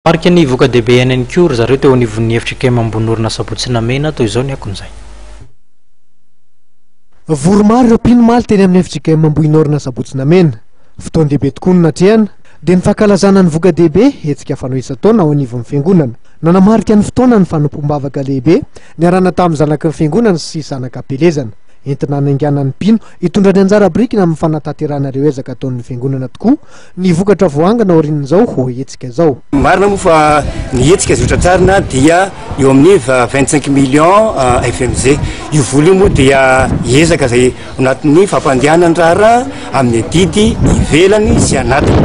Nanamarika ny voka-dehibe aina ihany koa ry zareo teo anivon'ny efitra Ikem Ambohinorina Sabotsy Namehina toy izao ny akon'izay. Vory maro ireo mpino omaly teny amin'ny efitra Ikem Ambohinorina Sabotsy Namehina. Fotoan-dehibe tokoa no natrehana, dia ny fankalazana ny voka-dehibe, hetsika fanao isan-taona ao anivon'ny Fiangonana. Nanamarika ny fotoana ny fanompoam-bavaka lehibe niarahana tamin'ny zanaky ny Fiangonana sy zana-kampelezana. Entina hanainganan'ny mpino hitondra ny anjara birikiny amin'ny fanatanterahana ireo ezaka ataon'ny Fiangonana tokoa Ny vokatra voangona aorian'izao hetsika izao. Marina moa fa ny hetsika izay hotratrarina dia eo amin'ny vingt cinq millions FMG. Io vola io moa dia ezaka izay ao anatin'ny fampandehanana ny raharaha amin'ny adidy ivelany sy anatiny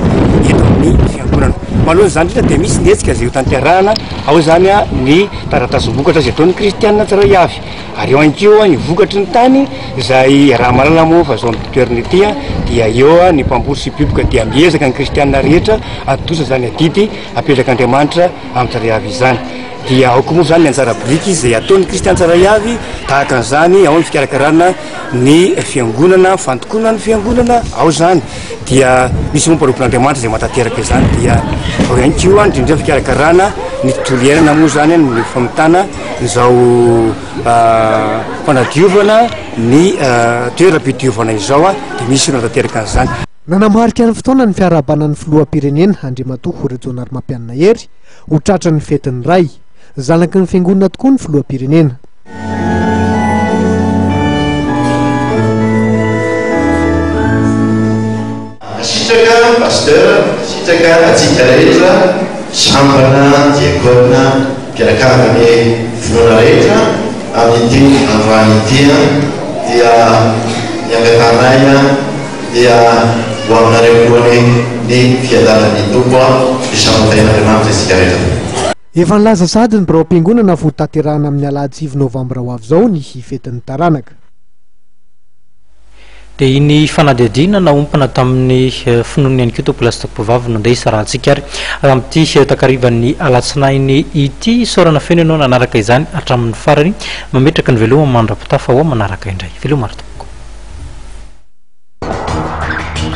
eto amin'ny Fiangonana. Manoloana izany indrindra dia misy ny hetsika izay hotanterahana, ao izany ny taratasim-bokatra izay ataon'ny kristiana tsirairay avy. Ary eo ihany koa ny vokatry ny tany izay raha mahalala moa fa izao amin'ity toerana ity dia eo ny mpamboly sy mpioboka dia miezaka ny kristiana rehetra hatontosa izany adidy apetrak'Andriamanitra amin'ny tsirairay avy izany. Dia aoka moa izany ny anjara biriky izay ataon'ny kristiana tsirairay avy tahaka an'izany ao ny fikarakarana ny fiangonana, fandokoana ny fiangonana ao izany dia misy moa mpanompon'Andriamanitra izay mahatanteraka izany dia ao ihany koa indrindra ny fikarakarana ny tontolo iainana moa izany ny famitana izao fanadiovana ny toeram-pidiovana izao dia misy olana tanteraka an'izany. Nanamarika ny fotoana ny fiarahabana ny filoham-pirenena Andriamatoa Rajaonarimampianina Hery ho tratry ny fetin'ny Ray, zanaky ny fiangonana tokoa ny filoham-pirenena. Mankasitraka Pasteur, mankasitraka antsika rehetra Sambana, Diakona, mpianakaviny finoana rehetra amin'ity androany ity dia ny angatahanay dia ho aminareo koa anie ny fiadanan'ny Tompo ny Sampantahian'Andriamanitra isika rehetra. Efa nilaza sahady ny biraom-piangonana fa ho tanterahina amin'ny Alahadivo Novambra ho avy izao ny hifetin'ny taranaka. Dia iny fanadihadiana naompana tamin'ny finoana ihany koa Tompo Lasitako Mpivavy no andeha isarahantsika ary amin'ity takarivan'ny alatsinainy ity. Isaorana feno ianao nanaraka izany hatramin'ny farany. Mametraka ny veloma mandra-pitafa ho manaraka indray. Veloma ry Tompoko.